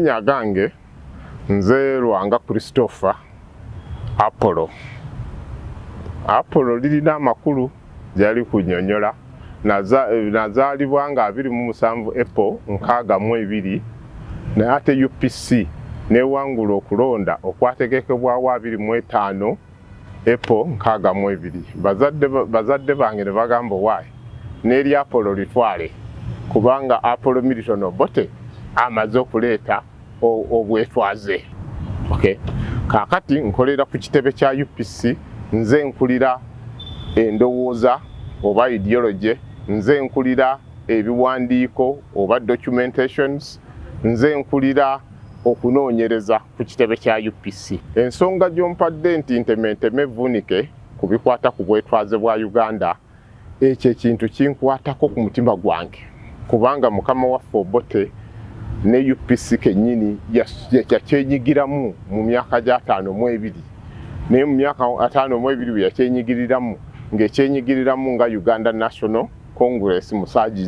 Amannya gange nze Lwanga Christopher Apollo. Apollo lirina amakulu gyali kunyonyola nazaalibwa nga abiri mu musanvu April nkaaga mu ebiri naye ate UPC newangula okulonda okwategekebwawo abiri mu etaano Epo nkaaga mu ebiri. Bazadde bange ne bagamba owaaye n'eri Apolo litwale kubanga Apolo Milton Obote amaze okuleeta obwetwaze. Okay. Kaakati nkolera ku kitebe kya UPC, nze nkulira endowooza oba ideology, nze nkulira ebiwandiiko oba documentations, nze nkulira okunoonyereza. ku kitebe kya UPC. Ensonga gy'ompadde nti ntementeme vunike ku bikwata ku bwetwaze bwa Uganda ekyo ekintu kinkwatako ku mutima gwange kubanga mukama waffe Obote ne UPC kennyini yakyenyigiramu mu myaka gy'ataano mu ebiri naye mu myaka ataano mu ebiri bwe yakyenyigiriramu ng'ekyenyigiriramu nga Uganda National congress musaji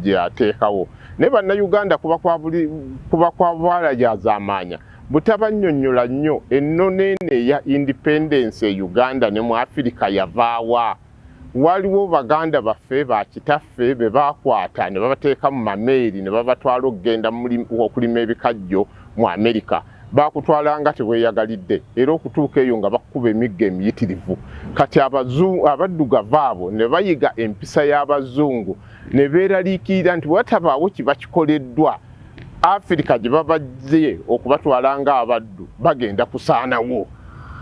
gyeyateekawo naye bannayuganda kuba kwa bwala gyazamaanya butabanyonyola nnyo ennono eno eya independence e uganda ne mu afirika yavaawa waliwo baganda baffe bakitaffe be bakwata ne babateeka mu mameeri ne babatwala okugenda okulima ebikajjo mu amerika baakutwala nga teweeyagalidde era okutuuka eyo nga bakukuba emigga emiyitirivu kati abaddugavu abo ne bayiga empisa y'abazungu ne beeraliikirira nti watabaawo kiba kikoleddwa afirika gye babajje okubatwala nga abaddu bagenda kusaanawo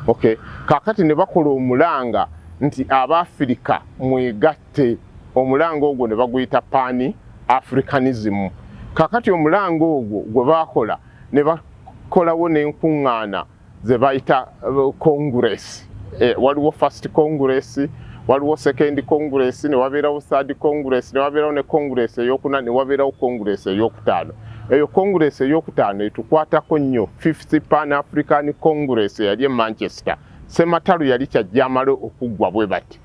okay kakati ne bakola omulanga nti abaafirika mwegatte omulanga ogwo ne baguyita pani africanism kakati omulanga ogwo gwe baakola ne bakolawo n'enkuŋŋaana ze bayita konguresi uh, eh, waliwo first congress waliwo second congress ne wabeerawo third congress ne wabeerawo ne congress eyokuna ne wabeerawo congress eyokutaano eyo congress eyokutaano etukwatako nnyo fifth pan african congress eyali e manchester sematalu yali kyajja amale okuggwa bwe bati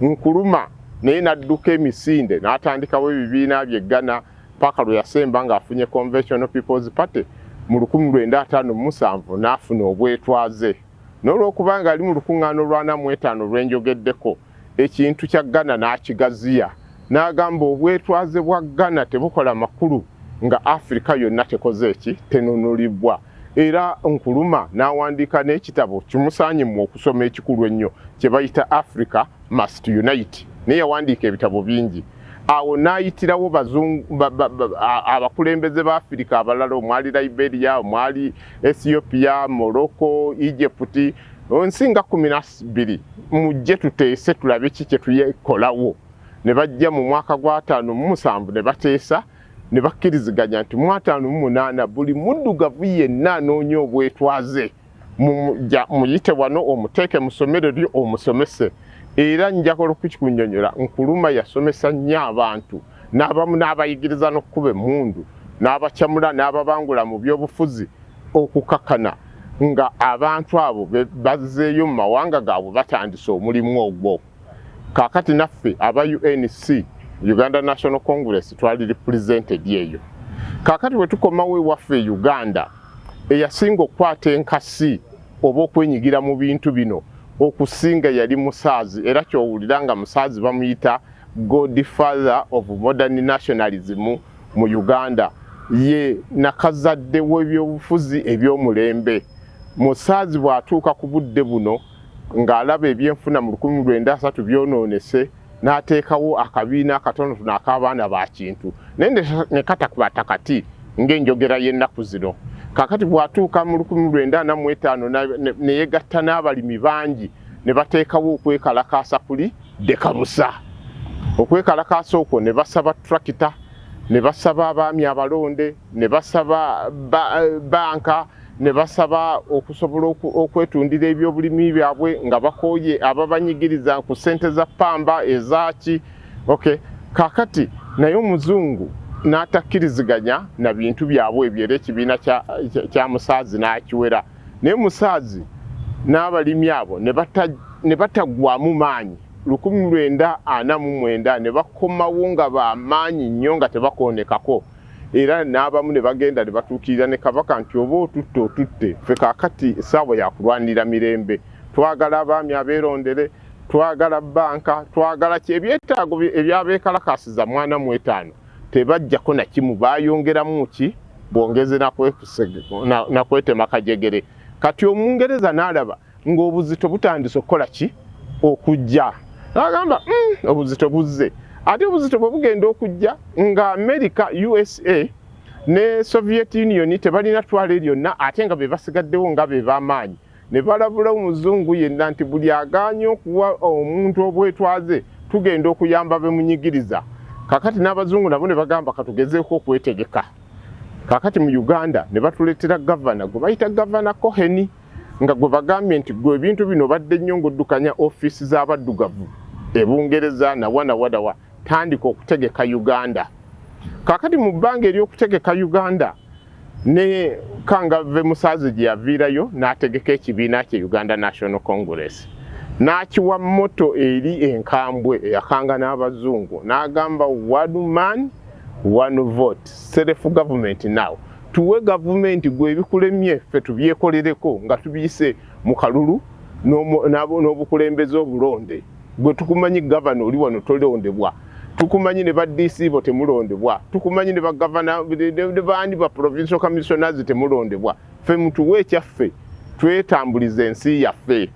Nkuluma naye n'adduka emisinde n'atandikawo ebibiina bye Ghana paka lwe yasemba ng'afunye Conventional People's Party mu 1957 n'afuna obwetwaze. N'olwokuba ng'ali mu lukuŋŋaana olw'ana mu etaano lwe njogeddeko, ekintu kya Ghana n'akigaziya n'agamba obwetwaze bwa Ghana tebukola makulu nga Afirika yonna tekoze ki? Tenunulibbwa. era nkuluma n'awandiika n'ekitabo kimusaanye mu okusoma ekikulu ennyo kye bayita africa must unite naye yawandiika ebitabo bingi awo n'ayitirawo abakulembeze ba afirika abalala omwali liberia omwali ethiopia morocco egypt nsi nga kumi nabbiri mujje tuteese tulabe ki kyetuyekolawo ne bajja mu mwaka gwataano mumusanvu ne bateesa ne bakkiriziganya nti mu ataano mu munaana buli muddugavu yenna anoonya obwetwaze muyite wano omuteeke mu ssomero lyo omusomese era njakola okukikunyonyola nkuluma yasomesa nnyo abantu n'abamu n'abayigiriza n'okukuba emmundu n'abacamula n'ababangula mu byobufuzi okukakana nga abantu abo bazzeeyo mu mawanga gaabwe batandise omulimu ogwo kakati naffe aba UNC Uganda National Congress twali represented eyo kakati wetukomawo ewaffe e Uganda eyasinga okukwata enkasi oba okwenyigira mu bintu bino okusinga yali musaazi era kyowulira nga musaazi bamuyita god father of modern nationalism mu Uganda ye nakazadde w'ebyobufuzi eby'omulembe musaazi bw'atuuka ku budde buno ng'alaba ebyenfuna mu lukumi lwenda asatu byonoonese n'ateekawo akabiina akatonotono ak'abaana ba kintu naye ne katakwata kati ng'enjogera y'ennaku zino kakati bw'atuuka mu lukumi lwenda ana mu etaano ne yegatta n'abalimi bangi ne bateekawo okwekalakaasa kuli dekabusa okwekalakaasa okwo ne basaba turakita ne basaba abaami abalonde ne basaba banka ne basaba okusobola okwetundira ebyobulimi byabwe nga bakooye ababanyigiriza ku ssente za ppamba ezaaki ok kakati naye omuzungu n'atakkiriziganya na bintu byabwe ebyo era ekibiina kya musaazi n'akiwera naye musaazi n'abalimi abo ne bataggwamu maanyi lukumi lwenda ana mu mwenda ne bakomawo nga bamaanyi nnyo nga tebakoonekako era n'abamu ne bagenda ne batuukirira ne kabaka nti oba otutte otutte ffe kaakati essaawa yakulwanira mirembe twagala abaami abeerondere twagala banka twagala ki ebyetaago ebyabeekalakaasiza mwana mu etaano tebajjako na kimu baayongeramu ki bwongeze nakwetema kajegere kati omungereza n'alaba ng'obuzito butandise okukola ki okujja agamba mm, obuzito buzze ate obuzito bwe bugenda okujja nga america usa ne soviet union tebalina twala eryonna ate nga be basigaddewo nga be bamaanyi ne balabula omuzungu yenna nti buli aganye okuwa omuntu obwetwaze tugenda okuyamba bemunyigiriza kakati n'abazungu nabo ne bagamba katugezeeko okwetegeka kakati mu uganda ne batuleetera gavana gwe bayita gavana coheni nga gwe bagambye nti gwe ebintu bino badde nnyo ng'oddukanya ofiisi z'abaddugavu e Bungereza nawanawadawa tandika okutegeka Uganda kakati mu bbanga ery'okutegeka Uganda ne kangave musaazi gye yaviirayo n'ategeka ekibiina kye Uganda National Congress n'akiwa moto eri enkambwe eyakanga n'abazungu n'agamba one man one vote self government now tuwe gavumenti gwe ebikulemye ffe tubyekolereko nga tubiyise mu kalulu n'obukulembeze obulonde gwe tukumanyi gavana oli wano tolondebwa tukumanyi ne ba DC bo temulondebwa tukumanyi ne ba gavana ne baani ba provincial commissioners temulondebwa ffe mutuwe ekyaffe twetambulize ensi yaffe